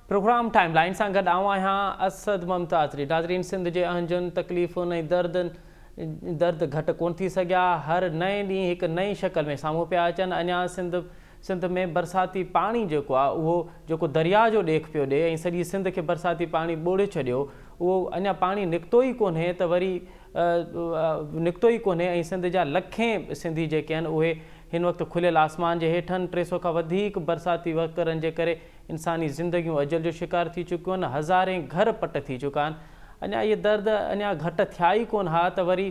Programme time line سان گڏ آئون آهيان اسد ممتازري ناظرين سنڌ جي اهنجن تڪليفن ۽ دردن درد گهٽ ڪون ٿي سگهيا هر نئين ڏينهن هڪ نئين شڪل ۾ سامهون پيا اچن اڃا سنڌ سنڌ ۾ برساتي پاڻي جيڪو آ اهو جيڪو دريا جو ڏيک پيو ڏي ۽ سڄي سنڌ کي برساتي پاڻي ٻوڙي ڇڏيو اهو اڃا پاڻي نڪتو ئي ڪونهي ته وري نڪتو ئي ڪونهي ۽ سنڌ جا لکين سنڌي جيڪي آهن اهي هن وقت کليل آسمان جي هيٺن ٽي سؤ کان وڌيڪ برساتي وهڪرن جي ڪري انساني زندگيون اجل جو شڪار ٿي چڪيون آهن هزارين گهر پٽ ٿي چڪا آهن اڃا اهي درد اڃا گهٽ ٿيا ئي ڪون ها ته وري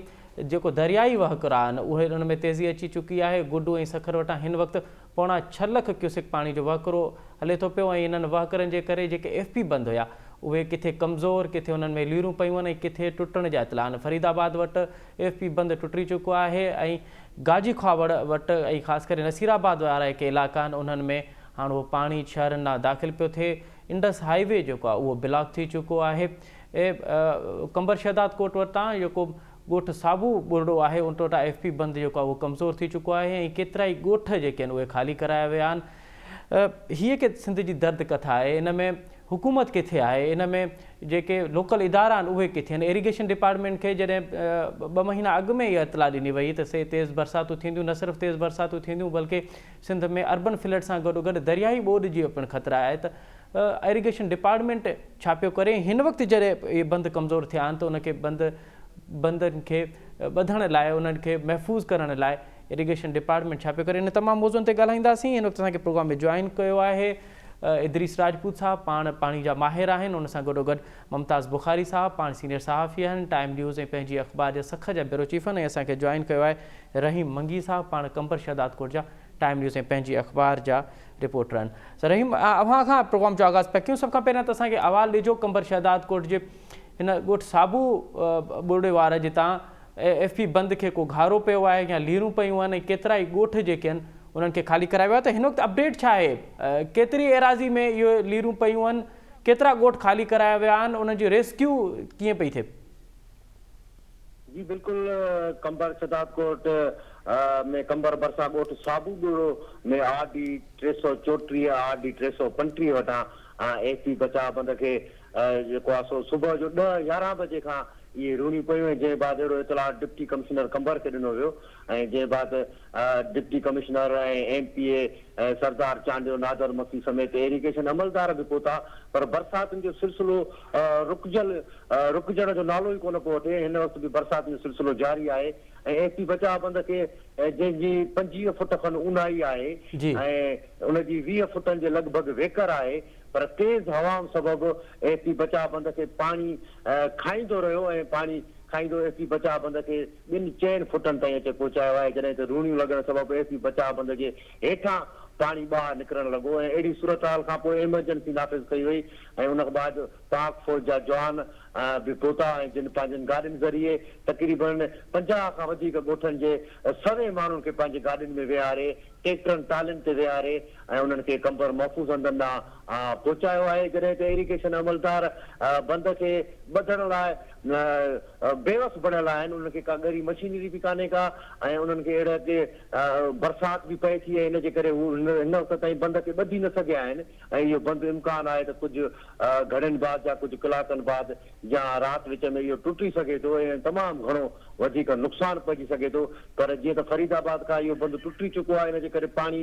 جيڪو دريائي وهڪرا آهن اهي ان ۾ تيزي اچي چڪي آهي گڊو ۽ سکر وٽان هن وقت پوڻا ڇهه لک ڪيوسڪ پاڻي جو وهڪرو هلي ٿو پيو ۽ انهن وهڪرن جي ڪري جيڪي ايف پي بند هيا اهي ڪٿي ڪمزور ڪٿي انهن ۾ ليرون پيون آهن ۽ ڪٿي ٽٽڻ جا اطلاع آهن فريد آباد وٽ ايف پي بند ٽٽي چڪو آهي ۽ گاجي کهاوڙ وٽ ۽ خاص ڪري نصير آباد وارا جيڪي علائقا آهن انهن ۾ هاڻ اهو پاڻي شهرن ڏانهن داخل پيو ٿئي انڊس هاء وي جيڪو آهي اهو بلاڪ ٿي چڪو آهي قمبر شهداد ڪوٽ وٽان جيڪو ڳوٺ ساڀو ٻرڙو آهي ان ٽوٽا ايف پي بند جيڪو آهي اهو ڪمزور ٿي چڪو آهي ۽ ڪيترائي ڳوٺ جيڪي آهن اهي خالي ڪرايا ويا آهن هي ڪي سنڌ جي درد ڪٿا آهي ان ۾ حڪومت ڪٿي آهي ان ۾ جيڪي لوڪل ادارا آهن اهي ڪٿي آهن ايريگيشن ڊپارٽمينٽ کي جڏهن ٻه مهينا اڳ ۾ اها اطلاع ڏني وئي ته سي تيز برساتون ٿينديون نه صرف تيز برساتون ٿينديون بلڪه سنڌ ۾ اربن فلڊ سان گڏو گڏ درياهي ٻوڏ جي پڻ خطرا آهي ته ايريگيشن ڊپارٽمينٽ ڇا پيو ڪري هن وقت جڏهن اهي بند ڪمزور ٿيا آهن ته ان کي بند بندن کي ٻڌڻ لاء انهن کي محفوظ ڪرڻ لاء ايريگيشن ڊپارٽمينٽ ڇا پيو ڪري ان تمام موضوعن تي ڳالهائينداسين هن وقت اسان کي پروگرام ۾ جوائن ڪيو آهي ادريس راجپوت صاحب پاڻ پاڻي جا ماهر آهن ان سان گڏو گڏ ممتاز بخاري صاحب پاڻ سينيئر صحافي آهن ٽائيم نيوز ۽ پنهنجي اخبار جا سک جا بيورو چيف آهن ۽ اسان کي جوائن ڪيو آهي رحيم منگي صاحب پاڻ قمبر شهدادڪوٽ جا ٽائيم نيوز ۽ پنهنجي اخبار جا رپورٽرن رحيم اوهان کان پروگرام جو آغاز پيا ڪيون سڀ کان پهريان ته اسان کي احوال ڏجو قمبر شهداد ڪوٽ جي هن ڳوٺ صابو ٻرڙي وار جتان ايف پي بند کي ڪو گهارو پيو آهي يا ليرون پيون آهن ۽ ڪيترا ئي ڳوٺ جيڪي آهن انهن کي خالي ڪرايو آهي ته هن وقت اپڊيٽ ڇا آهي ڪيتري ايراضي ۾ اهو ليرون پيون آهن ڪيترا ڳوٺ خالي ڪرايا ويا آهن انهن جو ريسڪيو ڪيئن پئي ٿئي جي بلڪل قمبر شھداد ڪوٽ ۾ قمبر ڀرسان ڳوٺ صابو ٻوڙو ۾ آر ڊي ٽي سؤ چوٽيهه آر ڊي ٽي سؤ پنٽيهه وٽان ايف پي بچاء بند کي جيڪو آ سو صبح جو ڏهه يارهن بجي کان اهي رونيون پيون ۽ جنهن بعد اهڙو اطلاع ڊپٽي ڪمشنر قمبر کي ڏنو ويو ۽ جنهن بعد deputy commissioner ۽ M P A Sardar Chandio Nadir Masih سميت ايريگيشن عملدار به پهتا پر برساتن جو سلسلو رڪجل رڪجڻ جو نالو ئي ڪونه پيو وٺي هن وقت به برساتن جو سلسلو جاري آهي ۽ ايس پي بچاء بند کي جنهن جي پنجويهه فٽ کن اونهائي آهي ۽ ان جي ويهه فٽن جي لڳ ڀڳ ويڪر آهي پر تيز هوائن سبب ايس پي بچاء بند کي پاڻي کائيندو رهيو ۽ پاڻي کائيندو ايس پي بچاء بند کي ٻن چئن فوٽن تائين اچي پهچايو آهي جڏهن ته روڻيون لڳڻ سبب ايس بي بچاء بند جي هيٺان پاڻي ٻاهر نڪرڻ لڳو ۽ اهڙي صورتحال کانپوء ايمرجنسي نافذ ڪئي وئي ۽ ان بعد پاڪ فوج جا جوان به پهتا ۽ جن پنهنجين گاڏين ذريعي تقريبن پنجاهه کان وڌيڪ ڳوٺن جي سوين ماڻهن کي پنهنجي گاڏين ۾ ويهاري ٽيڪٽرن ٽالين تي ويهاري ۽ انهن کي قمبر محفوظ هنڌن ڏانهن پهچايو آهي جڏهن ته ايريگيشن عملدار بند کي ٻڌڻ لاء بيوس بڻيل آهن انهن کي ڪا ڳري مشينري به ڪانهي ڪا ۽ انهن کي اهڙي اڳي برسات به پئي ٿي ۽ ان جي ڪري هو هن وقت تائين بند کي ٻڌي نه سگهيا آهن ۽ اهو بند امڪان آهي ته ڪجهه گهڙين بعد يا ڪجهه ڪلاڪن بعد يا رات وچ ۾ اهو ٽٽي سگهي ٿو ۽ تمام گهڻو وڌيڪ نقصان پئجي سگهي ٿو پر جيئن ته فريد آباد کان اهو بند ٽٽي چڪو آهي ان جي ڪري پاڻي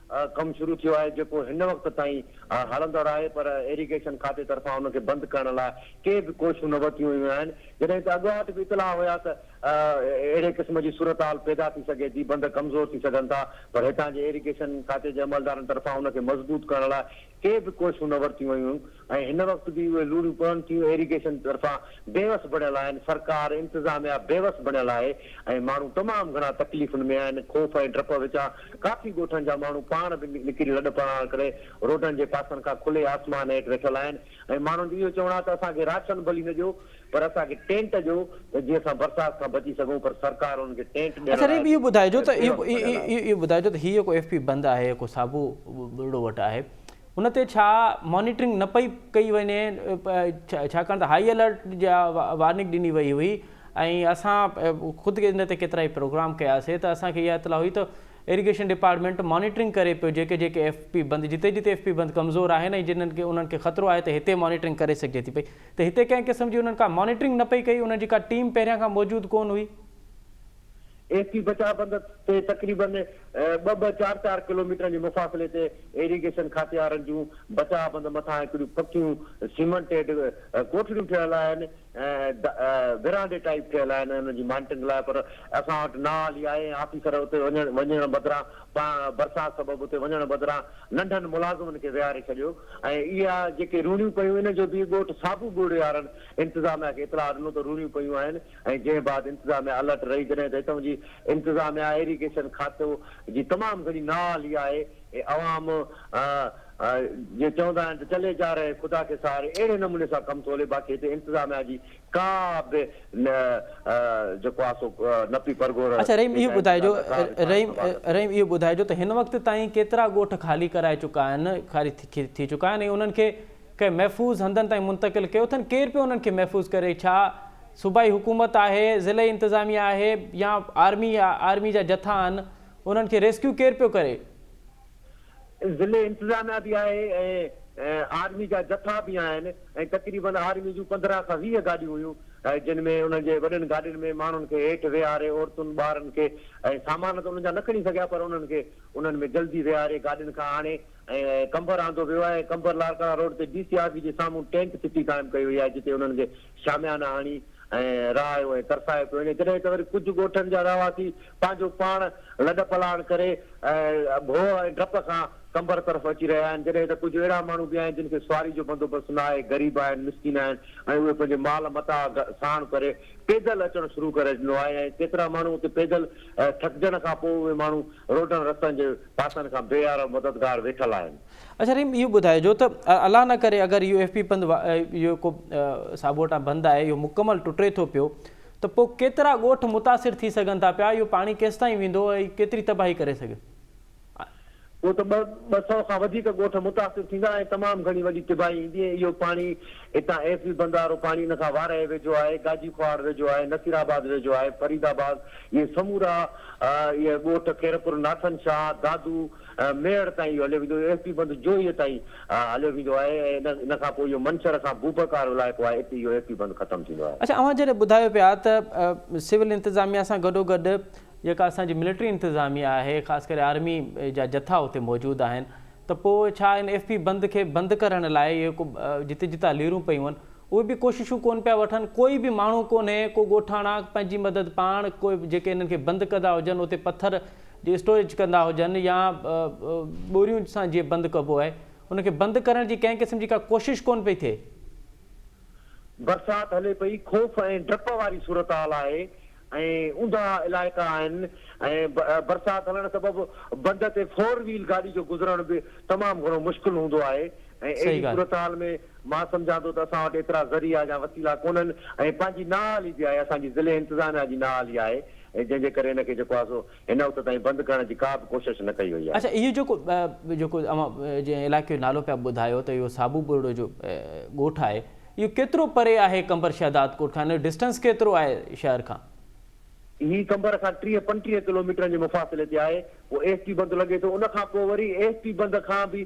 ڪم شروع ٿيو آهي جيڪو هن وقت تائين هلندڙ آهي پر ايريگيشن کاتي طرفان ان کي بند ڪرڻ لاء ڪي به ڪوششون نه ورتيون ويون آهن جڏهن ته اڳواٽ به اطلاع هيا ته اهڙي قسم جي صورتحال پيدا ٿي سگهي ٿي بند ڪمزور ٿي سگهن ٿا پر هتان جي ايريگيشن کاتي جي عملدارن طرفان ان کي مضبوط ڪرڻ لاء ڪي به ڪوشون نه ورتيون ويون ۽ هن وقت به اهي لوڙهيون پون ٿيون ايريگيشن طرفان بيوس بڻيل آهن سرڪار انتظاميا بيوس بڻيل آهي ۽ ماڻهو تمام گهڻا تڪليفن ۾ آهن خوف ۽ ڊپ وچان ڪافي ڳوٺن جا ماڻهو پاڻ به نڪري لڏ پلاڻ ڪري روڊن جي پاسن کان کلي آسمان هيٺ ويٺل آهن ۽ ماڻهن جو اهو چوڻ آهي ته اسان کي راشن ڀلي نه ڏيو پر اسان کي ٽينٽ ڏيو ته جيئن اسان برسات کان بچي سگهون پر سرڪار انهن کي ٽينٽ ڏيڻ اچا لاء به اهو ٻڌائجو ته بيوس ڀڳل آهي. اهو ٻڌائجو ته هي جيڪو ايف پي بند آهي جيڪو ساڀو ٻرڙو وٽ آهي ان تي ڇا مانيٽرنگ نه پئي ڪئي وڃي ڇاڪاڻ ته هائي الرٽ جا وارننگ ڏني وئي هئي ۽ اسان خود ان تي ڪيترائي پروگرام ڪياسي ته اسان کي اها اطلاع هئي ته ايريگيشن ڊپارٽمينٽ مانيٽرنگ ڪري پيو جيڪي جيڪي ايف پي بند جتي جتي ايف پي بند ڪمزور آهن ۽ جنهن کي انهن کي خطرو آهي ته هتي مانيٽرنگ ڪري سگهجي ٿي پئي ته هتي ڪنهن قسم جي انهن ڪا مانيٽرنگ نه پئي ڪئي، انهن جي ڪا ٽيم پهريان کان موجود ڪونه هئي. ايس پي بچاء بند تي تقريباً ٻه ٻه چار چار ڪلوميٽرن جي مفاصلي تي ايريگيشن کاتي وارن جون بچاء بند مٿان هڪڙيون پڪيون سيمنٽيڊ ڪوٺڙيون ٺهيل آهن ۽ ورانڊي ٽائيپ ٺهيل آهن انهن جي مانيٽرنگ لاء پر اسان وٽ نااهل ئي آهي ۽ آفيسر اتي وڃڻ وڃڻ بدران برسات سبب اتي وڃڻ بدران ننڍن ملازمن کي ويهاري ڇڏيو. ۽ اها جيڪي روڻيون پيون ان جو به ڳوٺ صابو ڳڙهي وارن انتظاميا کي اطلاع ڏنو ته روڻيون پيون آهن ۽ جنهن بعد انتظاميا الرٽ رهي جڏهن ته هتئون جي انتظاميا ايريگيشن کاتو جي تمام گهڻي نااهلي آهي ۽ عوام جي چوندا آهن ته چلي جا رهي خدا کي سهاري اهڙي نموني سان ڪم ٿو هلي باقي هتي انتظاميا جي ڪا به نه جيڪو آ سو نه پي پرگهور اڇا رحيم اهو ٻڌائجو رحيم رحيم اهو ٻڌائجو ته هن وقت تائين ڪيترا ڳوٺ خالي ڪرائي چڪا آهن خالي ٿي چڪا آهن ۽ انهن کي ڪنهن محفوظ هنڌن تائين منتقل ڪيو اٿن ڪير پيو انهن کي محفوظ ڪري ڇا صوبائي حڪومت آهي ضلعي انتظاميه آهي يا آرمي آرمي جا جٿا آهن انهن کي ريسڪيو ڪير پيو ڪري ضلعي انتظاميا به آهي ۽ آرمي جا جٿا به آهن ۽ تقريبن آرمي جون پندرهن کان ويهه گاڏيون هيون جن ۾ انهن جي وڏين گاڏين ۾ ماڻهن کي هيٺ ويهاري عورتن ٻارن کي ۽ سامان ته انهن جا نه کڻي سگهيا پر انهن کي انهن ۾ جلدي ويهاري گاڏين کان آڻي ۽ قمبر آندو ويو آهي ۽ قمبر لاڙڪاڻا روڊ تي ڊي سي آفيس جي سامهون ٽينٽ سٽي قائم ڪئي وئي آهي جتي انهن کي شاميانا هڻي ۽ رهايو ۽ ترسايو پيو وڃي، جڏهن ته وري ڪجهه ڳوٺن جا رهواسي پنهنجو پاڻ لڏپلاڻ ڪري ڀوء ۽ ڊپ کان قمبر طرف اچي رهيا آهن، جڏهن ته ڪجهه اهڙا ماڻهو به آهن، جن کي سواري جو بندوبست نه آهي، غريب آهن، مسڪين آهن ۽ اهي پنهنجي مال متاع ساڻ ڪري پيدل اچڻ شروع ڪري ڏنو آهي ۽ ڪيترا ماڻهو اتي پيدل ٿڪجڻ کان پوء اهي ماڻهو روڊن رستن جي پاسن کان بي يار و مددگار ويٺل آهن. اچا رحيم اهو ٻڌائجو ته الله نه ڪري اگر يو ايف پي پنڌ اهو ڪو ساٻوٽان بند آهي اهو مڪمل ٽٽي ٿو پيو ته پوء ڪيترا ڳوٺ متاثر ٿي سگهن ٿا پيا اهو پاڻي ڪيستائين ويندو ۽ ڪيتري تباهي ڪري سگهي پوء ته ٻه سؤ کان وڌيڪ ڳوٺ متاثر ٿيندا ۽ تمام گهڻي وڏي تباهي ايندي ۽ اهو پاڻي هتان ايف بي بند وارو پاڻي ان کان وارهي ويجهو آهي گاجي کوهاڙ ويجهو آهي نصير آباد ويجهو آهي فريد آباد اهي سمورا اهي ڳوٺ خيرپور ناٿن شاهه دادو ميهڙ تائين اهو هليو ويندو، ايس پي بند جوهي تائين هليو ويندو آهي ۽ ان کان پوء اهو منڇر کان بوبڪ وارو علائقو آهي، اتي اهو ايس پي بند ختم ٿيندو آهي. اڇا اوهان جڏهن ٻڌايو پيا ته سول انتظاميا سان گڏوگڏ جيڪا اسان جي ملٽري انتظاميا آهي خاص ڪري آرمي جا جٿا اتي موجود آهن ته پوء ڇا ان ايس پي بند کي بند ڪرڻ لاء اهي ڪو جتي جتا ليرون پيون آهن اهي به ڪوششون ڪون پيا وٺن ڪوئي به ماڻهو ڪونهي ڪو ڳوٺاڻا پنهنجي مدد پاڻ ڪوئي جيڪي انهن کي بند ڪندا هجن اتي پٿر جي اسٽوريج ڪندا هجن يا ٻوريون سان جيئن بند ڪبو آهي ان کي بند ڪرڻ جي ڪنهن قسم جي ڪا ڪوشش ڪونه پئي ٿئي. برسات هلي پئي، خوف ۽ ڊپ واري صورتحال آهي ۽ اونڌا علائقا آهن ۽ برسات هلڻ سبب بند تي فور ويل گاڏي جو گذرڻ به تمام گهڻو مشڪل هوندو آهي ۽ اهڙي صورتحال ۾ مان سمجهان ٿو ته اسان وٽ ايترا ذريعا يا وسيلا ڪونهن ۽ پنهنجي نااهلي به آهي، اسان جي ضلعي انتظاميا جي نااهلي آهي ۽ جنهن جي ڪري هن کي جيڪو آهي سو هن وقت تائين بند ڪرڻ جي ڪا به ڪوشش نه ڪئي وئي آهي. اڇا اهو جيڪو جيڪو اوهان جنهن علائقي جو نالو پيا ٻڌايو ته اهو صابو ٻرڙو جو ڳوٺ آهي اهو ڪيترو پري آهي قمبر شهداد ڪوٽ کان ان جو ڊسٽنس ڪيترو آهي شهر کان؟ هي قمبر کان ٽيهه پنجٽيهه ڪلوميٽرن جي مفاصلي تي آهي، پوء ايس ٽي بند لڳي ٿو ان کان پوء وري ايس ٽي بند کان به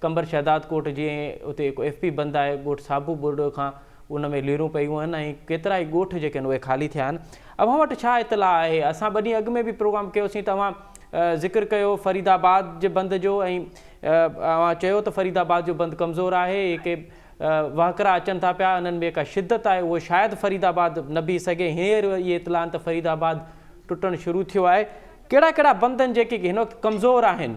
قمبر شهداد ڪوٽ جي ۽ اتي هڪ ايف پي بند آهي ڳوٺ صابو ٻرڙو کان ان ۾ ليرون پيون آهن ۽ ڪيترائي ڳوٺ جيڪي آهن اهي خالي ٿيا آهن اوهان وٽ ڇا اطلاع آهي اسان ٻه ڏينهن اڳ ۾ به پروگرام ڪيو سين ته اوهان ذڪر ڪيو فريد آباد جي بند جو ۽ اوهان چيو ته فريد آباد جو بند ڪمزور آهي جيڪي وهڪرا اچن ٿا پيا انهن ۾ جيڪا شدت آهي اهو شايد فريد آباد نه بيهي سگهي هينئر اهي اطلاع آهن ته فريد آباد ٽٽڻ شروع ٿيو آهي ڪهڙا ڪهڙا بند آهن جيڪي هن وقت ڪمزور آهن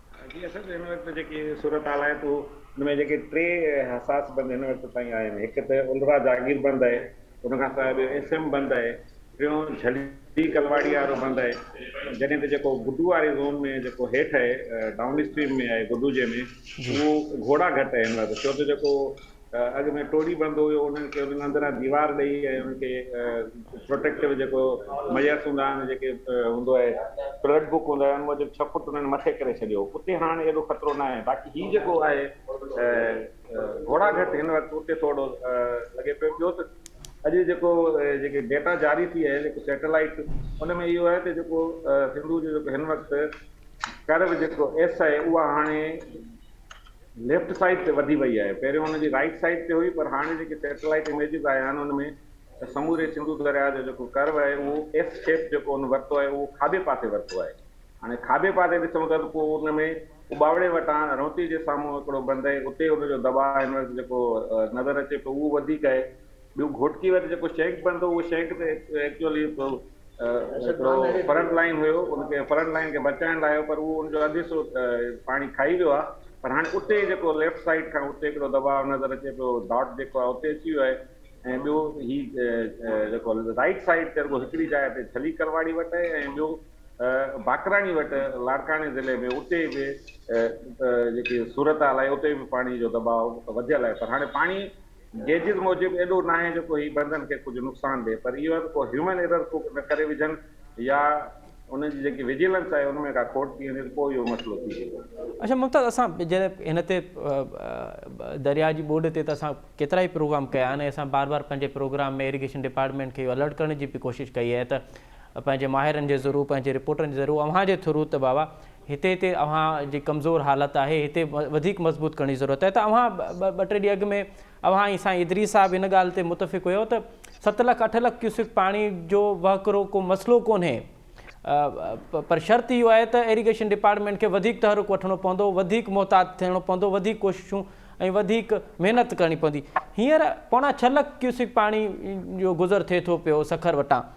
جي اسد هن وقت جيڪي صورتحال آهي تو ان ۾ جيڪي ٽي حساس بند هن وقت تائين آهن هڪ ته الرا جاگير بند آهي ان کان سواء ٻيو ايس ايم بند آهي ٽيون جھلي ڪلواڙي وارو بند آهي جڏهن ته جيڪو گڊو واري زون ۾ جيڪو هيٺ آهي ڊائون اسٽريم ۾ آهي گڊو جي ۾ اهو گھوڙا گھٽ آهي هن وقت ڇو ته جيڪو اڳ ۾ ٽوڙي بڻبو هيو انهن کي انهن اندران ديوار ڏئي ۽ انهن کي پروٽيڪٽو جيڪو ميس هوندا آهن جيڪي هوندو آهي پلڊ بوڪ هوندو آهي ان موجب ڇهه فوٽ انهن مٿي ڪري ڇڏيو اتي هاڻ ايڏو خطرو نه آهي باقي هي جيڪو آهي گهوڙا گهٽ هن وقت اتي ٿورڙو لڳي پيو ٻيو ته اڄ جيڪو جيڪي ڊيٽا جاري ٿي آهي جيڪو سيٽلائيٽ ان ۾ اهو آهي ته جيڪو سنڌو جو جيڪو هن وقت ڪرو جيڪو ايس آهي اها هاڻي ليفٽ سائيڊ تي وڌي وئي آهي، پهريون ان جي رائيٽ سائيڊ تي هئي پر هاڻي جيڪي سيٽلائيٽ اميجز آيا آهن ان ۾ ته سموري سنڌو درياهه جو جيڪو ڪرو آهي اهو ايس شيپ جيڪو ان ورتو آهي اهو کاٻي پاسي ورتو آهي، هاڻي کاٻي پاسي ڏسون ٿا ته پوء ان ۾ اٻاوڙي وٽان رونتي جي سامهون هڪڙو بند آهي اتي ان جو دٻاء هن وقت جيڪو نظر اچي پيو اهو وڌيڪ آهي، ٻيو گهوٽڪي وٽ جيڪو شينڪ بڻندو هو اهو شينڪ تي ايڪچوئلي هڪڙو فرنٽ لائين هيو ان کي فرنٽ لائين کي بچائڻ لاء هيو پر اهو ان جو اڌ حصو پاڻي کائي ويو آهي پر هاڻي اتي جيڪو ليفٽ سائيڊ کان اتي هڪڙو دٻاء نظر اچي پيو ڊاٽ جيڪو آهي اتي اچي ويو آهي ۽ ٻيو هي جيڪو رائيٽ سائيڊ تي رڳو هڪڙي جاء تي ڇلي ڪرواڙي وٽ آهي ۽ ٻيو باقراڻي وٽ لاڙڪاڻي ضلعي ۾ اتي به جيڪي صورتحال آهي اتي به پاڻي جو دٻاء وڌيل آهي پر هاڻي پاڻي گيجز موجب ايڏو ناهي جو ڪو هي بندن کي ڪجهه نقصان ڏي پر اهو آهي ته ڪو هيومن ايرر ڪو نه ڪري وجهن يا انهن جي جيڪي وجيلنس آهي ان ۾ ڪا کوٽ ٿي وڃي ته پوء اهو مسئلو ٿي ويندو. اچا ممتاز اسان جڏهن هن تي درياء جي ٻوڏ تي ته اسان ڪيترائي پروگرام ڪيا آهن ۽ اسان بار بار پنهنجي پروگرام ۾ ايريگيشن ڊپارٽمينٽ کي اهو الرٽ ڪرڻ جي به ڪوشش ڪئي آهي ته پنهنجي ماهرن جي ذرو پنهنجي رپورٽن جي ذرو اوهان جي ٿرو ته بابا هتي هتي اوهان جي ڪمزور حالت آهي هتي وڌيڪ مضبوط ڪرڻي ضرورت آهي ته اوهان ٻه ٽي ڏينهن اڳ ۾ اوهان ۽ سائين ادريس صاحب ان ڳالهه تي متفق هيو ته ست لک اٺ لک ڪيوسڪ پاڻي جو وهڪرو ڪو مسئلو ڪونهي پر شرط اهو آهي ته ايريگيشن ڊپارٽمينٽ کي وڌيڪ تحرڪ وٺڻو پوندو وڌيڪ محتاط ٿيڻو پوندو وڌيڪ ڪوششون ۽ وڌيڪ محنت ڪرڻي پوندي هينئر پوڻا ڇهه لک ڪيوسڪ پاڻي جو گذر ٿئي ٿو پيو سکر وٽان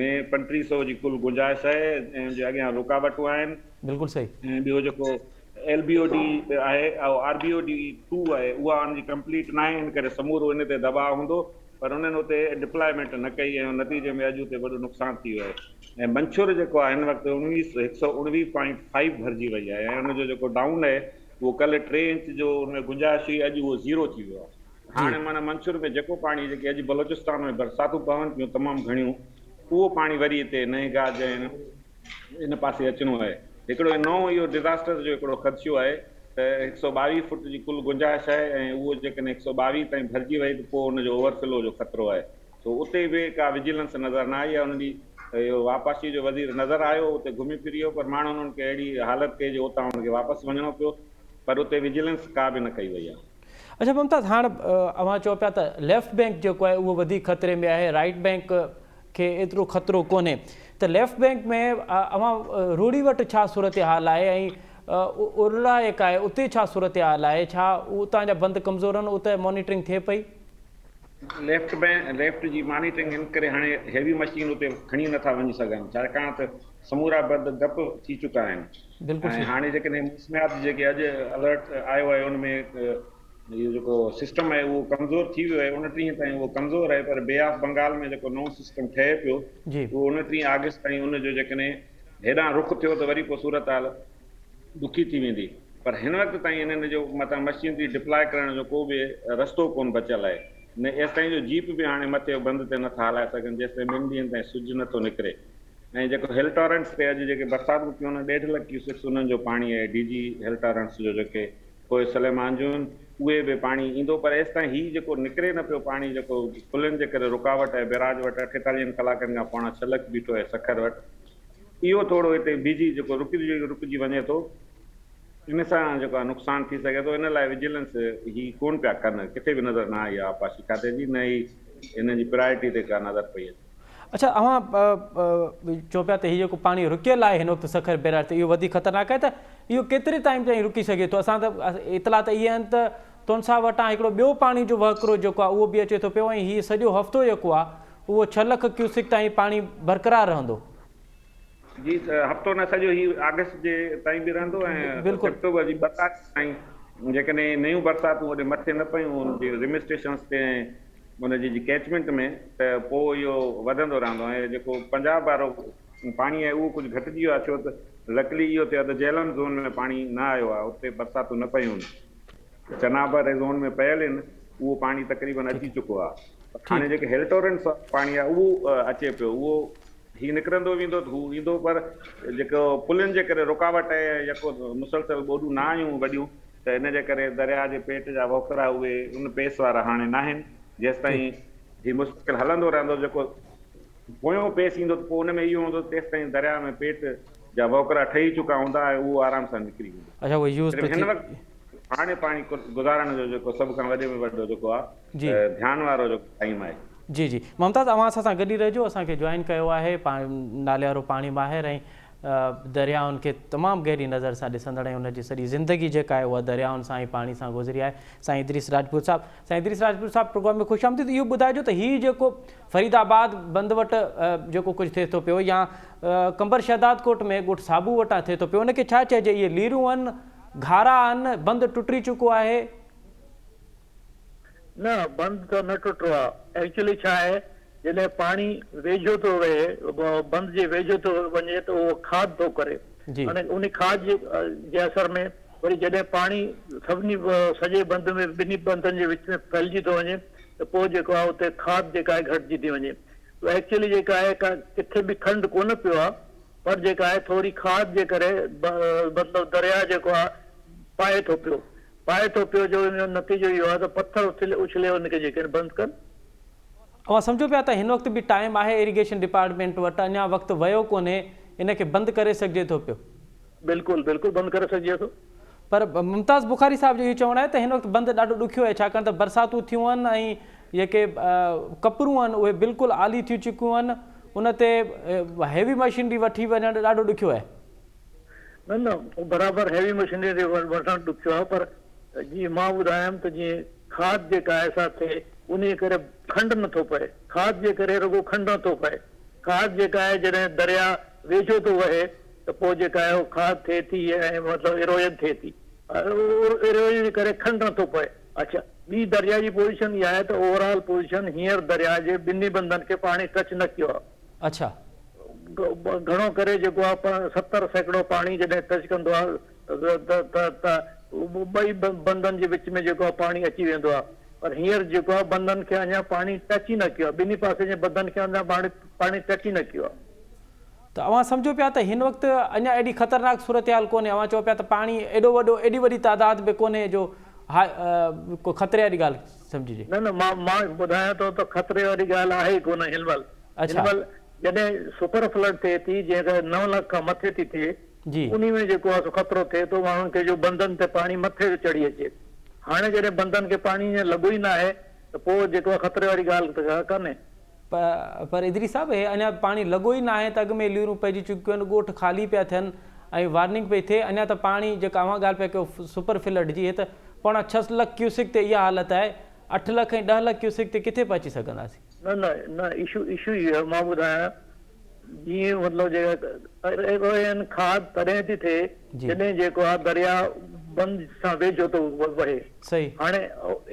۾ پنٽري سو جي ڪل گنجائش آهي جنهن جي اڳيان رڪاوٽون آهن. بلڪل صحيح. ۽ ٻيو جيڪو ايل بي او ڊي آهي اهو R B O D two آهي اها ان جي ڪمپليٽ ناهي ان ڪري سمورو ان تي دٻاء هوندو پر انهن اتي ڊپلائمينٽ نه ڪئي ۽ نتيجي ۾ اڄ اتي وڏو نقصان ٿي ويو آهي ۽ منڇور جيڪو آهي هن وقت هڪ سؤ اڻويهه پوائنٽ فائيو ڀرجي وئي آهي ۽ ان جو جيڪو ڊائون آهي اهو ڪلهه ٽي انچ جو ان ۾ گنجائش هئي اڄ اهو زيرو ٿي ويو آهي. هاڻي معنيٰ منصور ۾ جيڪو پاڻي جيڪي اڄ بلوچستان ۾ برساتون پون پيون تمام گهڻيون اهو پاڻي وري هتي نئين گاهه جي هن هن پاسي اچڻو آهي هڪڙو هي نئون اهو ڊزاسٽر جو هڪڙو خدشو آهي ته هڪ سؤ ٻاويهه فوٽ جي ڪل گنجائش آهي ۽ اهو جيڪڏهن هڪ سؤ ٻاويهه تائين ڀرجي وئي ته پوء ان جو اوور فلو جو خطرو آهي سو اتي به ڪا وجيلنس نظر نه آئي آهي ان ڏينهن اهو واپاشي جو وزير نظر آيو اتي گهمي ڦري ويو پر ماڻهن ان کي اهڙي حالت ڪئي جو اتان ان کي واپس وڃڻو پيو پر اتي وجيلنس ڪا به نه ڪئي وئي آهي. اچا ممتاز هاڻ اوهان چئو پيا ته ليفٽ بينڪ جيڪو آهي اهو وڌيڪ خطري ۾ آهي رائيٽ بينڪ کي ايترو خطرو ڪونهي ته ليفٽ بينڪ ۾ اوهان روڙي وٽ ڇا صورتحال آهي ۽ ارلا يڪ آهي اتي ڇا صورتحال آهي ڇا اتان جا بند ڪمزور آهن اتي مانيٽرنگ ٿئي پئي. ليفٽ بينڪ ليفٽ جي مانيٽرنگ ان ڪري هاڻي هيوي مشين اتي کڻي نٿا وڃي سگهن ڇاڪاڻ ته سمورا برد ڊپ ٿي چڪا آهن ۽ هاڻي جيڪڏهن موسميات جي جيڪي اڄ الرٽ آيو آهي ان ۾ اهو جيڪو سسٽم آهي اهو ڪمزور ٿي ويو آهي انٽيهين تائين اهو ڪمزور آهي پر بي آف بنگال ۾ جيڪو نئون سسٽم ٺهي پيو اهو انٽيهين آگسٽ تائين ان جو جيڪڏهن هيڏانهن رخ ٿيو ته وري پوء صورتحال ڏکي ٿي ويندي پر هن وقت تائين انهن جو متان مشينري ڊپلاء ڪرڻ جو ڪو به رستو ڪونه بچيل آهي نه ايستائين جو جيپ به هاڻي مٿي بند تي نٿا هلائي سگهن جيستائين ٻن ڏينهن تائين سج نٿو نڪري. ۽ جيڪو هل ٽارنٽس تي اڄ جيڪي برسات به ٿي ان ڏيڍ لک ڪيوسڪس انهن جو پاڻي اهي ڊي جي هل ٽارنٽس جو جيڪي ڪوء سليمان جون آهن اهي به پاڻي ايندو پر ايستائين هي جيڪو نڪري نه پيو پاڻي جيڪو پلين جي ڪري رڪاوٽ آهي بيراج وٽ اٺيتاليهن ڪلاڪن کان پوڻا ڇهه لک بيٺو آهي سکر وٽ اهو ٿورو هتي بيهجي جيڪو رڪجي رڪجي وڃي ٿو ان سان جيڪو آهي نقصان ٿي سگهي ٿو ان لاء وجيلنس هي ڪون پيا ڪن ڪٿي به نظر نه آئي آبپاشي کاتي جي نه ئي هنن جي پرايرٽي تي ڪا نظر پئي اچي اڇا اوهان چئو پيا ته هي جيڪو پاڻي رڪيل آهي هن وقت سکر بيراج تي اهو وڌيڪ خطرناڪ آهي ته اهو ڪيتري ٽائيم تائين رڪي سگهي ٿو اسان ته اطلاع ته اهي آهن ته تونسا وٽان هڪڙو ٻيو پاڻي جو وهڪرو جيڪو آهي اهو به اچي ٿو پيو ۽ هي سڄو هفتو جيڪو آهي اهو ڇهه لک ڪيوسڪ تائين پاڻي برقرار رهندو جي هفتو نه سڄو هي آگسٽ جي تائين به رهندو ۽ سيپٽمبر جي ٻه تاريخ تائين جيڪڏهن نيون برساتون هوڏي مٿي نه پيون ان جي رمي اسٽيشنس تي ۽ ان جي ڪيچمينٽ ۾ ته پوء اهو وڌندو رهندو ۽ جيڪو پنجاب وارو پاڻي آهي اهو ڪجهه گهٽجي ويو آهي ڇو ته لڪلي اهو ٿيو آهي ته جهلم زون ۾ پاڻي نه آيو آهي اتي برساتون نه پيون آهن چناب واري زون ۾ پيل آهن اهو پاڻي تقريبن اچي چڪو آهي هاڻي جيڪي هيلٽورنس پاڻي آهي اهو اچي پيو اهو هي نڪرندو ويندو ته هو ايندو پر جيڪو پلين جي ڪري رڪاوٽ آهي ۽ يڪو مسلسل ٻوڏون نه آيون وڏيون ته ان جي ڪري درياء جي پيٽ جا وهڪرا اهي ان پيس وارا هاڻي ناهن جيستائين هي مستقل هلندو رهندو جيڪو پويون پيس ايندو ته پوء ان ۾ اهو هوندو ته تيستائين درياء ۾ پيٽ جا وهڪرا ٺهي چڪا هوندا ۽ اهو آرام سان نڪري ويندو. صرف هن وقت هاڻي پاڻي گذارڻ جو جيڪو سڀ کان وڏي ۾ وڏو جيڪو آهي. جي. ڌيان وارو جو ٽائيم آهي. جي جي ممتاز اوهان اسان سان گڏ ئي رهجو اسان کي جوائن ڪيو آهي نالي وارو پاڻي ماهر ۽ دريائن کي تمام گهري نظر سان ڏسندڙ ۽ ان جي سڄي زندگي جيڪا آهي اها دريائن سان ۽ پاڻي سان گذري آهي سائين ادريس راجپوت صاحب سائين ادريس راجپوت صاحب پروگرام ۾ خوش آمديد اهو ٻڌائجو ته هي جيڪو فريد آباد بند وٽ جيڪو ڪجهه ٿئي ٿو پيو يا قمبر شهداد ڪوٽ ۾ ڳوٺ صابو وٽان ٿئي ٿو پيو ان کي ڇا چئجي اهي ليرون آهن گهارا آهن بند ٽٽري چڪو آهي نه بند ته نه ٽٽو آ ايڪچولي ڇا آهي جڏهن پاڻي ويجهو ٿو وهي بند جي ويجهو ٿو وڃي ته اهو کاڌ ٿو ڪري هاڻي ان کاڌ جي جي اثر ۾ وري جڏهن پاڻي سڀني سڄي بند ۾ ٻنهي بندن جي وچ ۾ ڦهلجي ٿو وڃي ته پوء جيڪو آهي اتي کاڌ جيڪا آهي گهٽجي ٿي وڃي ايڪچولي جيڪا آهي ڪا ڪٿي به کنڊ ڪونه پيو آ پر جيڪا آهي ٿوري کاڌ جي ڪري مطلب درياء جيڪو آ پائي ٿو پيو پائي ٿو پيو جو ان جو نتيجو اهو آهي ته پٿر اٿلي اڇلي هو نڪجي ڪين بند ڪن. اوهان سمجهو پيا ته هن وقت به ٽائيم آهي ايريگيشن ڊپارٽمينٽ وٽ اڃان وقت ويو ڪونهي ان کي بند ڪري سگهجي ٿو پيو. بلڪل بلڪل بند ڪري سگهجي ٿو. پر ممتاز بخاري صاحب جو اهو چوڻ آهي ته هن وقت بند ڏاڍو ڏکيو آهي ڇاڪاڻ ته برساتون ٿيون آهن ۽ جيڪي ڪپرون آهن اهي بلڪل آلي ٿيون چڪيون آهن ان تي هيوي مشينري وٺي وڃڻ ڏاڍو ڏکيو آهي. نه نه برابر هيوي مشينري تي وٺڻ ڏکيو آهي پر جيئن مان ٻڌايم ته جيئن کاڌ جيڪا آهي سا ٿئي انهي ڪري کنڊ نه ٿو پئي کاڌ جي ڪري رڳو کنڊ نه ٿو پئي کاڌ جيڪا آهي جڏهن دريا ويجهو ٿو وهي ته پوء جيڪا آهي اهو کاڌ ٿئي ٿي ۽ مطلب ايروجن ٿئي ٿي ايروجن جي ڪري کنڊ نه ٿو پئي اڇا ٻي دريا جي پوزيشن اها آهي ته اوور آل پوزيشن هينئر دريا جي ٻنهي بندن کي پاڻي ٽچ نه ڪيو آهي اڇا. گهڻو ڪري جيڪو آ ستر سيڪڙو پاڻي جڏهن ٽچ ڪندو آ ته ته ته ٻئي بندن جي وچ ۾ جيڪو آ پاڻي اچي ويندو آ پر هينئر جيڪو آ بندن کي اڃا پاڻي ٽچ ئي نه ڪيو آ ٻنهي پاسي جي بندن کي اڃا پاڻي پاڻي ٽچ ئي نه ڪيو آ. ته اوهان سمجهو پيا ته هن وقت اڃا ايڏي خطرناڪ صورتحال ڪونهي اوهان چئو پيا ته پاڻي ايڏو وڏو ايڏي وڏي تعداد به ڪونهي جو هاء ڪو خطري واري ڳالهه سمجهجي. نه نه مان مان ٻڌايان ٿو ته خطري واري ڳالهه آهي ئي ڪونه هن مهل. هن اڇا. مهل جڏهن سپر فلڊ ٿئي ٿي جنهن ڪري نو لک کان مٿي ٿي ٿئي جي. انهي ۾ جيڪو آهي سو خطرو ٿئي ٿو ماڻهن کي جو بندن تي پاڻي مٿي ٿو چڙهي اچي هاڻي جڏهن بندن کي پاڻي جيئن لڳو ئي ناهي ته پوء جيڪو آهي خطري واري ڳالهه ته ڪا ڪانهي. پر ادريس صاحب هي اڃا پاڻي لڳو ئي ناهي ته اڳ ۾ ليرون پئجي چڪيون آهن ڳوٺ خالي پيا ٿين ۽ وارننگ پئي ٿئي اڃا ته پاڻي جيڪا اوهان ڳالهه پيا ڪيو سپر فلڊ جي هي ته پوڻا ڇهه لک ڪيوسڪ تي اها حالت آهي اٺ لک ۽ ڏهه لک ڪيوسڪ تي ڪٿي پهچي سگهنداسين. نه نه نه اشو اشو هي آهي مان ٻڌايان جيئن مطلب جيڪا اهي آهن کاڌ تڏهن ٿي ٿئي جڏهن جيڪو آهي درياء بند سان ويجهو ٿو وهي هاڻي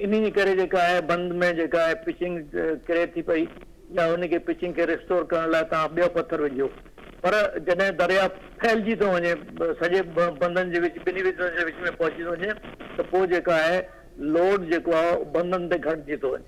انهي جي ڪري جيڪا آهي بند ۾ جيڪا آهي پچنگ ڪري ٿي پئي يا انهي کي پچنگ کي ريسٽور ڪرڻ لاء توهان ٻيو پٿر وجهو پر جڏهن درياء ڦهلجي ٿو وڃي سڄي بندن جي وچ ٻنهي بندن جي وچ ۾ پهچي ٿو وڃي ته پوء جيڪا آهي لوڊ جيڪو آهي بندن تي گهٽجي ٿو وڃي.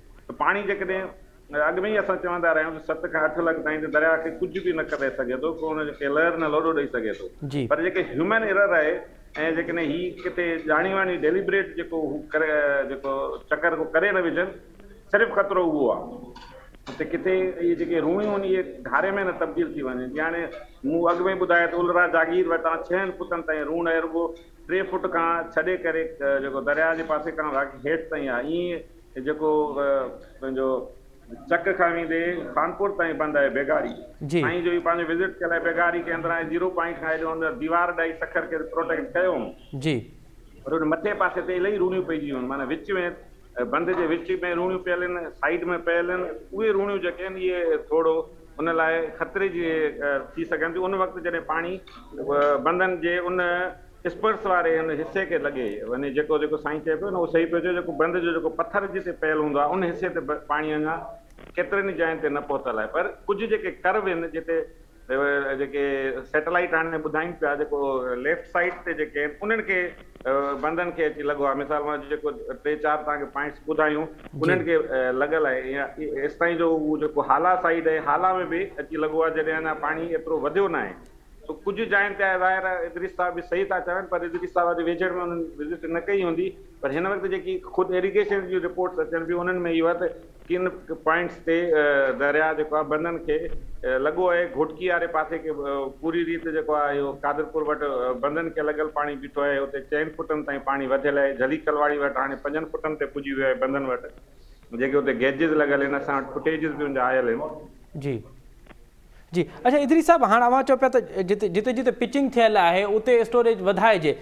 ته پاڻي جيڪڏهن اڳ ۾ ئي اسان چوندا رهيا آهيون ته ست کان اٺ لک تائين ته درياهه کي ڪجهه به نه ڪري سگهي ٿو ڪو ان کي لهر نه لوڏو ڏئي سگهي ٿو پر جيڪي هيومن ايرر آهي ۽ جيڪڏهن هي ڪٿي ڄاڻي واڻي ڊيليبريٽ جيڪو هو ڪري جيڪو چڪر ڪو ڪري نه وجهن صرف خطرو اهو آهي ته ڪٿي اهي جيڪي روڻيون ان جي گهاري ۾ نه تبديل ٿي وڃن جيئن هاڻي مون اڳ ۾ ٻڌايو ته الرا جاگير وٽان ڇهن فوٽن تائين روڻ اهي رڳو ٽي فوٽ کان ڇڏي ڪري جيڪو درياهه جي پاسي کان واقعي هيٺ تائين آهي ائين هي جيڪو پنهنجو چڪ کڻي ويندي خانپور تائين بند آهي بيگاري سائين جو هي پنهنجو وزٽ ڪيل آهي بيگاري کي اندران هي زيرو پوائنٽ کان هيڏو اندر ديوار ڏائي سکر کي پروٽيڪٽ ڪيو هئون جي پر ان مٿي پاسي تي الائي روڻيون پئجي ويون معنيٰ وچ ۾ بند جي وچ ۾ روڻيون پيل آهن سائيڊ ۾ پيل آهن اهي روڻيون جيڪي آهن اهي ٿورو ان لاء خطري جي ٿي سگهن ٿيون ان وقت جڏهن پاڻي بندن جي ان اسپرس واري ان حصي کي لڳي وڃي جيڪو جيڪو سائين چئي پيو نه اهو صحيح پيو چئي جيڪو بند جو جيڪو پٿر جتي پيل هوندو آهي ان حصي تي پاڻي اڃا ڪيترن ئي جاين تي نه پهتل آهي پر ڪجهه جيڪي ڪرو آهن جتي جيڪي سيٽلائيٽ هاڻي ٻڌائين پيا جيڪو ليفٽ سائيڊ تي جيڪي آهن انهن کي بندن کي اچي لڳو آهي مثال مان جيڪو ٽي چار توهان کي پوائنٽس ٻڌايون انهن کي لڳل آهي ايستائين جو اهو جيڪو هالا سائيڊ آهي هالا ۾ به اچي لڳو آهي جڏهن اڃا پاڻي ايترو وڌيو ناهي سو ڪجهه جاين تي آهي، ظاهر آهي ادريس صاحب به صحيح ٿا چون پر ادريس صاحب اڄ ويجهڙ ۾ انهن وزٽ نه ڪئي هوندي پر هن وقت جيڪي خود ايريگيشن جون رپورٽس اچن پيون انهن ۾ اهو آهي ته ڪن پوائنٽس تي درياء جيڪو آهي بندن کي لڳو آهي گهوٽڪي واري پاسي کي پوري ريت جيڪو آهي اهو قادرپور وٽ بندن کي لڳل پاڻي بيٺو آهي اتي چئن فٽن تائين پاڻي وڌيل آهي جھلي ڪلواڙي وٽ هاڻي پنجن فٽن تي پڄي ويو آهي بندن وٽ جيڪي اتي گيجز لڳل آهن اسان وٽ فٽيجز به ان جا آيل آهن. جي. جي اڇا ادريس صاحب هاڻ اوهان چئو پيا ته جتي جتي جتي پچنگ ٿيل آهي اتي اسٽوريج وڌائجي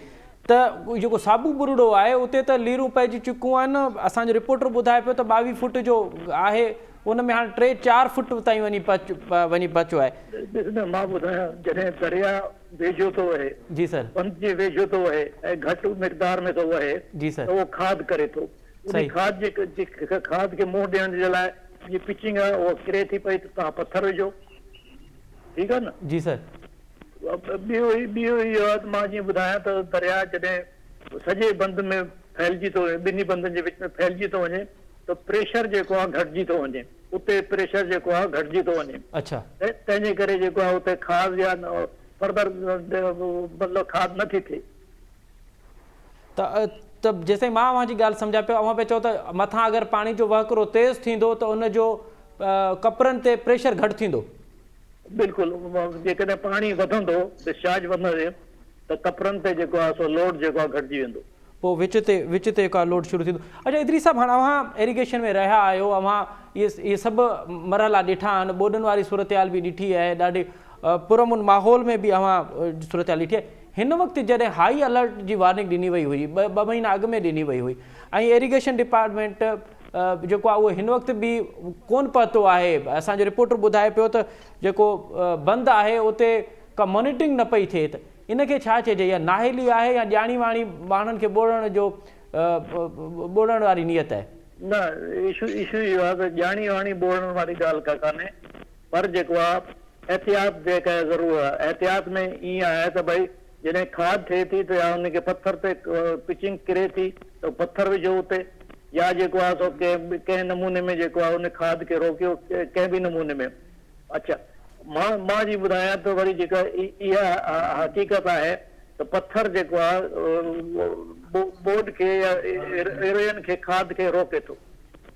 ته جيڪو سابو ٻرڙو آهي اتي ته ليرون پئجي چڪيون آهن اسان جو رپورٽر ٻڌائي پيو ته ٻاويهه فوٽ جو آهي ان ۾ هاڻ ٽي چار فوٽ تائين وڃي پهچ وڃي پهچو آهي ڏس نه مان ٻڌايان جڏهن درياء ويجهو ٿو وهي جي سر بند جي ويجهو ٿو وهي ۽ گهٽ مقدار ۾ ٿو وهي جي سر ته اهو کاڌ ڪري ٿو انهي صحيح کاڌ جي کاڌ کي منهن ڏيڻ جي لاء جي پچنگ آهي اها ڪري ٿي پئي ته توهان پٿر وجهو ٺيڪ آهي نه جي سر. ٻيو ٻيو اهو آهي ته مان جيئن ٻڌايان ته درياء جڏهن سڄي بند ۾ ڦهلجي ٿو وڃي ٻنهي بندن جي وچ ۾ ڦهلجي ٿو وڃي ته پريشر جيڪو آهي گهٽجي ٿو وڃي اتي پريشر جيڪو آهي گهٽجي ٿو وڃي اڇا. تنهن جي ڪري جيڪو آهي اتي کاڌ جا فرڌر مطلب کاڌ نه ٿي ٿئي. ته جيستائين مان اوهان جي ڳالهه سمجهان پيو، اوهان پيا چئو ته مٿان اگر پاڻي جو وهڪرو تيز ٿيندو ته ان جو ڪپرن تي پريشر گهٽ ٿيندو. بلڪل، جيڪڏهن پاڻي وڌندو، ڊسچارج وڌندي ته ڪپرن تي جيڪو آهي سو لوڊ جيڪو آهي گهٽجي ويندو. پوء وچ تي وچ تي ڪا لوڊ شروع ٿيندو. اڇا ادريس صاحب هاڻ اوهان ايريگيشن ۾ رهيا آهيو، اوهان اهي سڀ مرحلا ڏٺا آهن، ٻوڏن واري صورتحال به ڏٺي آهي، ڏاڍي پرامن ماحول ۾ به اوهان صورتحال ڏٺي آهي. هن وقت جڏهن هائي الرٽ جي وارننگ ڏني وئي هئي، ٻه مهينا اڳ ۾ ڏني وئي هئي ۽ ايريگيشن ڊپارٽمينٽ جيڪو آهي اهو هن وقت به ڪونه پهتو آهي. اسان جو رپورٽر ٻڌائي پيو ته جيڪو بند آهي اتي ڪا مانيٽرنگ نه پئي ٿئي ته ان کي ڇا چئجي يا نااهلي آهي يا ڄاڻي واڻي ماڻهن کي ٻوڙڻ جو ٻوڙڻ واري نيت آهي. نه ايشو ايشو اهو آهي ته ڄاڻي واڻي ٻوڙڻ واري ڳالهه ڪا ڪانهي پر جيڪو آ احتياط جي ڪا ضرور آ احتياط ۾ ائين آهي ته ڀئي جڏهن کاڌ ٿئي ٿي ته يا ان کي پٿر تي پچنگ ڪري ٿي ته پٿر وجهو اتي يا جيڪو آ سو ڪنهن به ڪنهن نموني ۾ جيڪو آ ان کاڌ کي روڪيو ڪنهن به نموني ۾ اڇا مان مان جي ٻڌايان ته وري جيڪا اها حقيقت آهي ته پٿر جيڪو آ ٻوڏ کي يا ايرين کي کاڌ کي روڪي ٿو.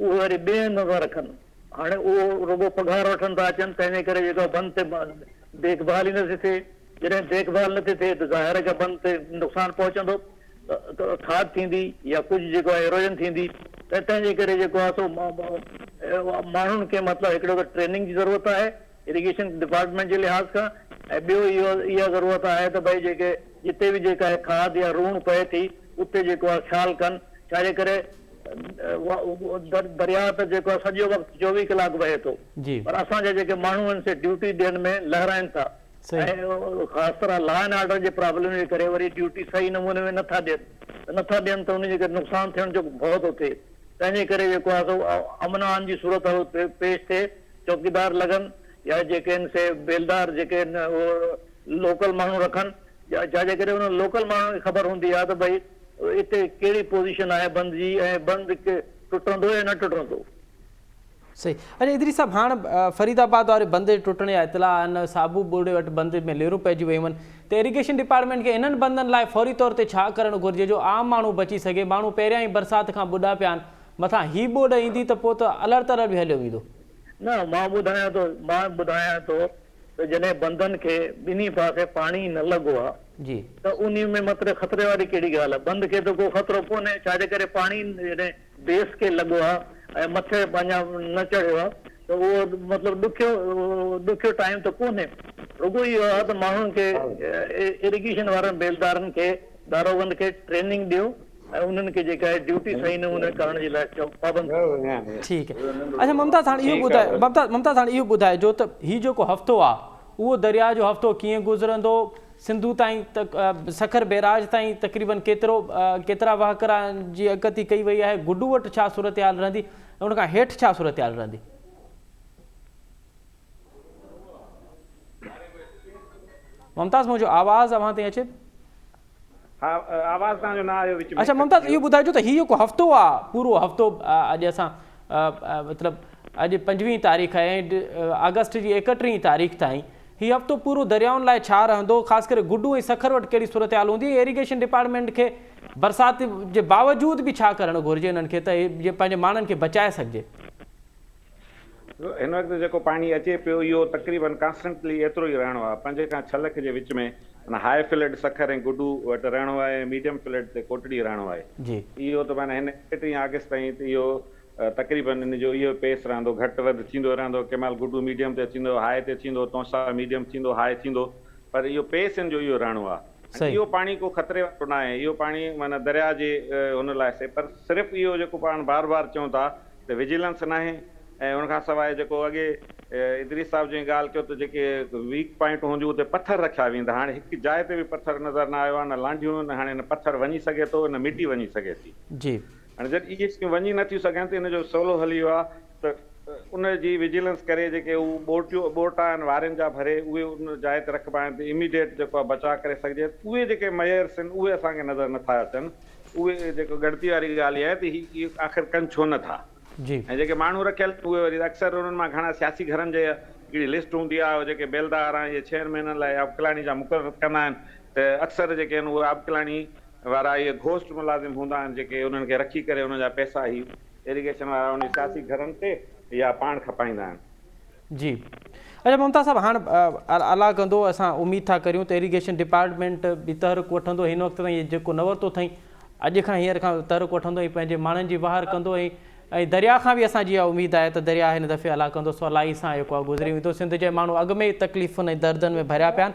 اهي وري ٻئي هنڌ ٿا رکن. هاڻي اهو رڳو پگهار وٺڻ ٿا اچن، تنهنجي ڪري جيڪا بند تي ديک ڀال ئي نه ٿي ٿئي. جڏهن ديک ڀال نه ٿي ٿئي ته ظاهر آهي ڪا بند تي نقصان پهچندو، کاڌ ٿيندي يا ڪجهه جيڪو آهي ايروجن ٿيندي ته تنهنجي ڪري جيڪو آهي سو ماڻهن کي مطلب هڪڙو ته ٽريننگ جي ضرورت آهي اريگيشن ڊپارٽمينٽ جي لحاظ کان ۽ ٻيو اهو اها ضرورت آهي ته ڀئي جيڪي جتي به جيڪا هي کاڌ يا روڻ پئي ٿي اتي جيڪو آهي خيال ڪن ڇاجي ڪري درياء ته جيڪو آهي سڄو وقت چوويهه ڪلاڪ وهي ٿو پر اسان جا جيڪي ماڻهو آهن سي ڊيوٽي ڏينهن ۾ لهرائن ٿا ۽ خاص طرح لا اينڊ آرڊر جي پرابلم جي ڪري وري ڊيوٽي صحيح نموني ۾ نٿا ڏين ته نٿا ڏين ته ان جي ڪري نقصان ٿيڻ جو ڀؤ ٿو ٿئي تنهنجي ڪري جيڪو آهي سو امن امان جي صورتحال پيش ٿئي چوڪيدار لڳن يا جيڪي آهن سي بيلدار جيڪي آهن اهو لوڪل ماڻهو رکن يا جا جيڪڏهن انهن لوڪل ماڻهن کي خبر هوندي ها ته ڀئي اتي ڪهڙي پوزيشن آهي بند جي ۽ بند ٽٽندو يا نه ٽٽندو. صحيح اچا ادريس صاحب هاڻ فريد آباد واري بند جي ٽٽڻ جا اطلاع آهن صابو ٻوڙي وٽ بند ۾ ليرون پئجي ويون هن ته ايريگيشن ڊپارٽمينٽ کي انهن بندن لاء فوري طور تي ڇا ڪرڻ گهرجي جو عام ماڻهو بچي سگهي ماڻهو پهريان ئي برسات کان ٻڏا پيا آهن مٿان هي ٻوڏ ايندي ته پوء ته الهڙ تلهڙ به هليو ويندو. نه، مان ٻڌايان ٿو، مان ٻڌايان ٿو ته جڏهن بندن کي ٻنهي پاسي پاڻي ئي نه لڳو آ ته انهي ۾ متري خطري واري ڪهڙي ڳالهه آ؟ بند کي ته ڪو خطرو ڪونهي ڇا جي ڪري پاڻي جڏهن بيس کي لڳو آ ۽ مٿي اڃا نه چڙهيو آ ته اهو مطلب ڏکيو ڏکيو ٽائيم ته ڪونهي. رڳو اهو آ ته ماڻهن کي اريگيشن وارن بيلدارن کي داروغن کي ٽريننگ ڏيو. ۽ انهن کي جيڪا هي ڊيوٽي سائين نه هئڻ ڪرڻ جي لاء چئو پابند ٺيڪ اچھا ممتاز هاڻ اهو ٻڌايو ممتاز هاڻ اهو ٻڌائجو ته هي جيڪو هفتو آ اهو درياء جو هفتو ڪيئن گذرندو سنڌو تائين سکر بيراج تائين تقريبن ڪيترو ڪيترا وهڪرا جي اڪتي ڪئي وئي آهي گڊو وٽ ڇا صورتحال رهندي ان کان هيٺ ڇا صورتحال رهندي ممتاز منهنجو آواز اوهان تائين اچي ٿو. ها آواز توهان جو نه آيو وچ ۾. اڇا ممتاز اهو ٻڌائجو ته هي جيڪو هفتو آ پورو هفتو اڄ اسان مطلب اڄ پنجويهين تاريخ آهي ۽ آگسٽ جي ايڪٽيهين تاريخ تائين هي هفتو پورو دريائن لاء ڇا رهندو خاص ڪري گڊو ۽ سکر وٽ ڪهڙي صورتحال هوندي ۽ ايريگيشن ڊپارٽمينٽ کي برسات جي باوجود به ڇا ڪرڻ گهرجي انهن کي ته جي پنهنجي ماڻهن کي بچائي سگهجي هن وقت جيڪو پاڻي اچي پيو اهو تقريبن ڪانسٽنٽلي ايترو ئي رهڻو آهي. پنج کان ڇهه لک جي وچ ۾ معنيٰ هاء فلڊ سکر ۽ گڊو وٽ رهڻو آهي ۽ ميڊيم فلڊ تي ڪوٽڙي رهڻو آهي. اهو ته معنيٰ هن ايڪٽرينهن آگسٽ تائين ته اهو تقريبن ان جو اهو پيس رهندو گهٽ وڌ ٿيندو رهندو ڪنهن مهل گڊو ميڊيم تي اچي ويندو هاء تي ٿيندو تونسا ميڊيم ٿيندو هاء ٿيندو پر اهو پيس ان جو اهو رهڻو آهي. اهو پاڻي ڪو خطري وارو ناهي، اهو پاڻي معنيٰ درياء جي هن لاء سي پر صرف اهو جيڪو پاڻ بار بار چئون ٿا ته وجيلنس ناهي ۽ ان کان سواء جيڪو اڳي ادريس صاحب جئين ڳالهه ڪيو ته جيڪي ويڪ پوائنٽون هونديون اتي پٿر رکيا ويندا هاڻي هڪ جاء تي به پٿر نظر نه آيو آهي نه لانڍيون نه هاڻي نه پٿر وڃي سگهي ٿو نه مٽي وڃي سگهي ٿي. هاڻي جڏهن اهي شيون وڃي نه ٿيون سگهن ته ان جو سولو حل اهو آهي ته ان جي وجيلنس ڪري جيڪي هو ٻورٽيون ٻورٽا آهن وارين جا ڀري اهي ان جاء تي رکبا آهن ته اميڊيٽ جيڪو آهي بچاء ڪري سگهجي اهي جيڪي ميئرس آهن اهي اسان کي نظر نه ٿا اچن اهي جيڪو ڳڻتي واري ڳالهه اها آهي ته هي اهو آخر ڪن ڇو نه ٿا ۽ جيڪي ماڻهو رکيل آهن اهي وري اڪثر انهن مان گهڻا سياسي گهرن جي هڪڙي لسٽ هوندي آهي جيڪي بيلدار آهن اهي ڇهن مهينن لاء آبڪلاڻي جا مقرر ڪندا آهن ته اڪثر جيڪي آهن اهي آبڪلاڻي وارا اهي گهوسٽ ملازم هوندا آهن جيڪي انهن کي رکي ڪري انهن جا پئسا هي ايريگيشن وارا انهن سياسي گهرن تي يا پاڻ کپائيندا آهن. جي اچا ممتاز صاحب هاڻ الا ڪندو اسان اميد ٿا ڪريون ته ايريگيشن ڊپارٽمينٽ به تحرڪ وٺندو هن وقت تائين جيڪو نه ورتو اٿئين اڄ کان هينئر کان تحرڪ وٺندو ۽ پنهنجي ماڻهن جي واهر ڪندو ۽ ۽ درياء کان به اسان جي اها اميد آهي ته درياء هن دفعي الا ڪندو سولائي سان جيڪو آهي گذري ويندو سنڌ جي ماڻهو اڳ ۾ ئي تڪليفن ۽ دردن ۾ ڀريا پيا آهن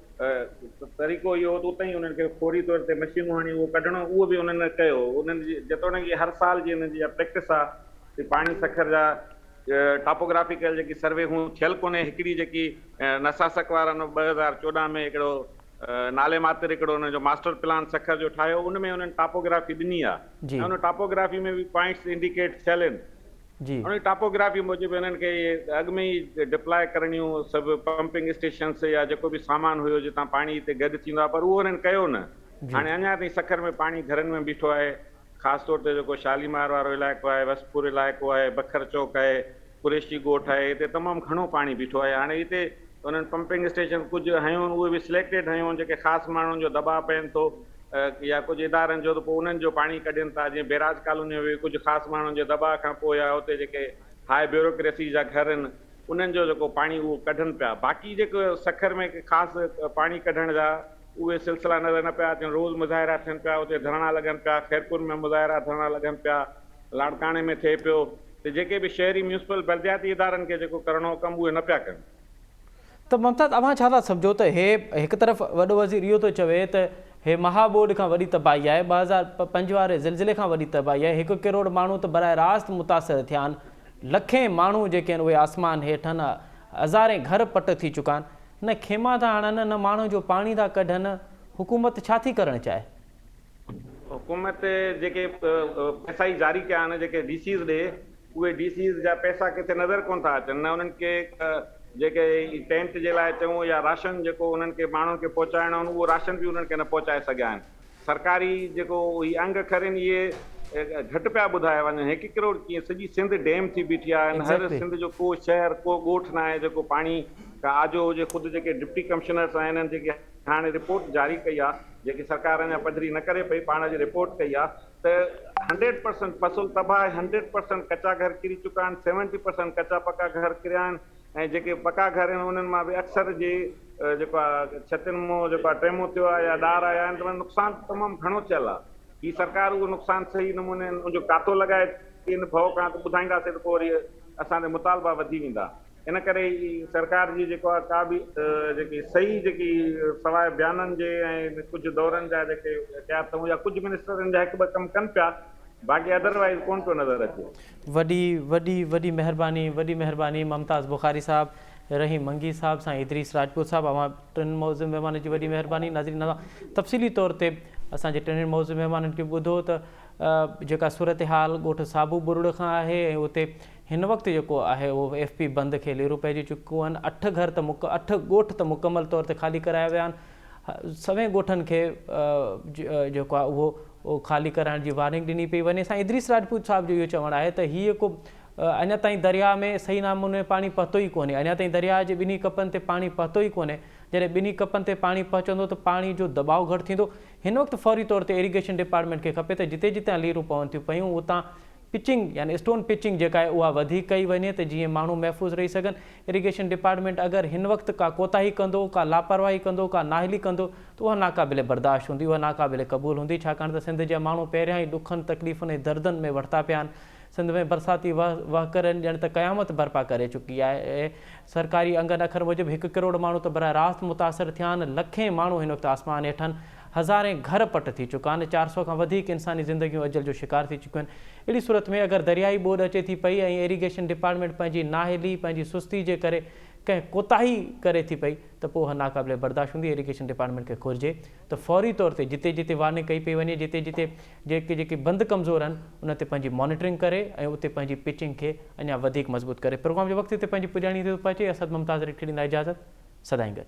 طريقو اهو هو ته اتي ئي انهن کي فوري طور تي مشينون هڻي اهو ڪڍڻو، اهو به انهن ڪيو. انهن جي جيتوڻيڪ هر سال جي انهن جي اها پريڪٽس آ ته پاڻي سکر جا ٽاپوگرافيڪل جيڪي سرويون ٿيل ڪونهي، هڪڙي جيڪي نساسڪ وارن ٻه هزار چوڏهن ۾ هڪڙو نالي ماتر هڪڙو انهن جو ماسٽر پلان سکر جو ٺاهيو، ان ۾ انهن ٽاپوگرافي ڏني آ ۽ ان ٽاپوگرافي ۾ به پوائنٽس انڊيڪيٽ ٿيل آهن. جي. هن ٽاپوگرافي موجب هنن کي اڳ ۾ ئي ڊپلاء ڪرڻيون سڀ پمپنگ اسٽيشنس يا جيڪو به سامان هيو جتان پاڻي هتي گڏ ٿيندو آهي پر اهو هنن ڪيو نه هاڻي اڃا تائين سکر ۾ پاڻي گهرن ۾ بيٺو آهي خاص طور تي جيڪو شاليمار وارو علائقو آهي وسپور علائقو آهي بکر چوڪ آهي قريشي ڳوٺ آهي هتي تمام گهڻو پاڻي بيٺو آهي هاڻي هتي هنن پمپنگ اسٽيشن ڪجهه هيون اهي به سليڪٽيڊ هيون جيڪي خاص ماڻهن جو دٻاء پين ٿو يا ڪجهه ادارن جو ته پوء انهن جو پاڻي ڪڍين ٿا جيئن بيراج ڪالوني ۾ به ڪجهه خاص ماڻهن جي دٻاء کان پوء يا اتي جيڪي هاء بيوروڪريسي جا گهر آهن انهن جو جيڪو پاڻي اهو ڪڍن پيا باقي جيڪو سکر ۾ ڪي خاص پاڻي ڪڍڻ جا اهي سلسلا نظر نه پيا اچن روز مظاهرا ٿين پيا اتي ڌرڻا لڳن پيا خيرپور ۾ مظاهرا ڌرڻا لڳن پيا لاڙڪاڻي ۾ ٿئي پيو ته جيڪي به شهري ميونسپل بلدياتي ادارن کي جيڪو ڪرڻو هو ڪم اهي نه پيا ڪن. ته ممتاز اوهان ڇا ٿا سمجهو ته هي هڪ طرف وڏو وزير اهو ٿو چوي ته هي مها ٻوڏ کان وڏي تباهي آهي ٻه هزار پنج واري زلزلي کان وڏي تباهي آهي هڪ ڪروڙ ماڻهو ته براه راست متاثر ٿيا آهن لکين ماڻهو جيڪي آهن اهي آسمان هيٺ آهن هزارين گهر پٽ ٿي چڪا آهن نه خيما ٿا هڻن نه ماڻهن جو پاڻي ٿا ڪڍن حڪومت ڇا ٿي ڪرڻ چاهي. حڪومت جيڪي پئسا ئي جاري ڪيا آهن جيڪي ڊي سيز ڏي اهي ڊي سيز جا پئسا ڪٿي نظر ڪونه ٿا اچن نه انهن کي جيڪي ٽينٽ جي لاء چئون يا راشن جيڪو انهن کي ماڻهن کي پهچائڻو آهن اهو راشن به انهن کي نه پهچائي سگهيا آهن سرڪاري جيڪو هي انگ کرين اهي گهٽ پيا ٻڌايا وڃن هڪ ڪروڙ ڪيئن سڄي سنڌ ڊيم ٿي بيٺي آهي ان هر سنڌ جو ڪو شهر ڪو ڳوٺ ناهي جيڪو پاڻي کان آجو هجي خود جيڪي ڊپٽي ڪمشنرس آهن انهن جيڪي هاڻي رپورٽ جاري ڪئي آهي جيڪي سرڪار اڃا پڌري نه ڪري پئي پاڻ اڄ رپورٽ ڪئي آهي ته هنڊريڊ پرسنٽ فصل تباهه آهي هنڊريڊ پرسنٽ ڪچا گهر ڪري چڪا آهن سيونٽي پرسنٽ ڪچا پڪا گهر ڪريا آهن ۽ جيڪي پڪا گهر آهن انهن مان به اڪثر جي جيڪو آهي ڇتين مون جيڪو آهي ٽيمون ٿيو آهي يا ڏار آيا آهن تمام نقصان تمام گهڻو ٿيل آهي هي سرڪار اهو نقصان صحيح نموني ان جو ڪاتو لڳائي ٿي ان ڀؤ کان ته ٻڌائينداسي ته پوء وري اسان تي مطالبا وڌي ويندا. ان ڪري ئي سرڪار جي جيڪو آهي ڪا به جيڪي صحيح جيڪي سواء بيانن جي ۽ ڪجهه دورن جا جيڪي احتياط اٿئون يا ڪجهه منسٽر ان جا هڪ ٻه ڪم ڪن پيا باقي ادر وائيز ڪونه پيو نظر اچي. وڏي وڏي وڏي مهرباني وڏي مهرباني ممتاز بخاري صاحب، رحيم منگي صاحب، سائين ادريس راجپوت صاحب اوهان ٽن معزز مهمانن جي وڏي مهرباني ناظرين اوهان تفصيلي طور تي اسان جي ٽنهي معزز مهمانن کي ٻڌو ته جيڪا صورتحال ڳوٺ صابو ٻرڙ کان آهي ۽ اتي هن وقت جيڪو آهي اهو ايف پي بند کي ليرون پئجي چڪو آهن اٺ گهر ته مڪ اٺ ڳوٺ ته مڪمل طور تي خالي ڪرايا ويا آهن سوين ڳوٺن کي جيڪو آهي اهو خالي ڪرائڻ جي وارننگ ڏني پئي وڃي سائين ادريس راجپوت صاحب جو اهو چوڻ آهي ته هي جيڪو اڃا تائين درياء ۾ صحيح ناموني پاڻي پهتو ئي ڪونهي اڃا تائين درياء جي ٻنهي ڪپن تي پاڻي پهتو ئي ڪونهي جڏهن ٻنهي ڪپن تي پاڻي پهچندو ته پاڻي جو دٻاء گهٽ ٿيندو هن وقت فوري طور تي ايريگيشن ڊپارٽمينٽ کي کپي ته جتي جتان ليرون پون ٿيون پيون اتان پچنگ يعني اسٽون پچنگ جيڪا آهي اها وڌيڪ ڪئي وڃي ته جيئن ماڻهو محفوظ رهي سگهن، اريگيشن ڊپارٽمينٽ اگر هن وقت ڪا ڪوتاهي ڪندو، ڪا لاپرواهي ڪندو، ڪا نااهلي ڪندو ته اها ناقابل برداشت هوندي، اها ناقابل قبول هوندي ڇاڪاڻ ته سنڌ جا ماڻهو پهريان ئي ڏکن، تڪليفن ۽ دردن ۾ وٺتا پيا آهن، سنڌ ۾ برساتي وهڪرن ڄڻ ته قيامت برپا ڪري چڪي آهي، سرڪاري انگن اکر موجب هڪ ڪروڙ ماڻهو ته براه راست متاثر ٿيا آهن، لکين ماڻهو هن وقت آسمان هيٺن. هزارين گهر پٽ ٿي چڪا آهن، چار سؤ کان وڌيڪ انساني زندگيون اجل جو شڪار ٿي چڪيون آهن، اهڙي صورت ۾ اگر درياهي ٻوڏ اچي ٿي پئي ۽ ايريگيشن ڊپارٽمينٽ پنهنجي نااهلي، پنهنجي سستي جي ڪري ڪنهن ڪوتاهي ڪري ٿي پئي ته پوء اها ناقابل برداشت هوندي، ايريگيشن ڊپارٽمينٽ کي گهرجي ته فوري طور تي جتي جتي وارننگ ڪئي پئي وڃي، جتي جتي جيڪي جيڪي بند ڪمزور آهن انهن تي پنهنجي مانيٽرنگ ڪري ۽ اتي پنهنجي پچنگ کي اڃا وڌيڪ مضبوط ڪري. پروگرام جي وقت تي پنهنجي پڄاڻي تي ٿو پهچي، اسد ممتاز ريڊڪي ڏيندا اجازت، سدائين گڏ.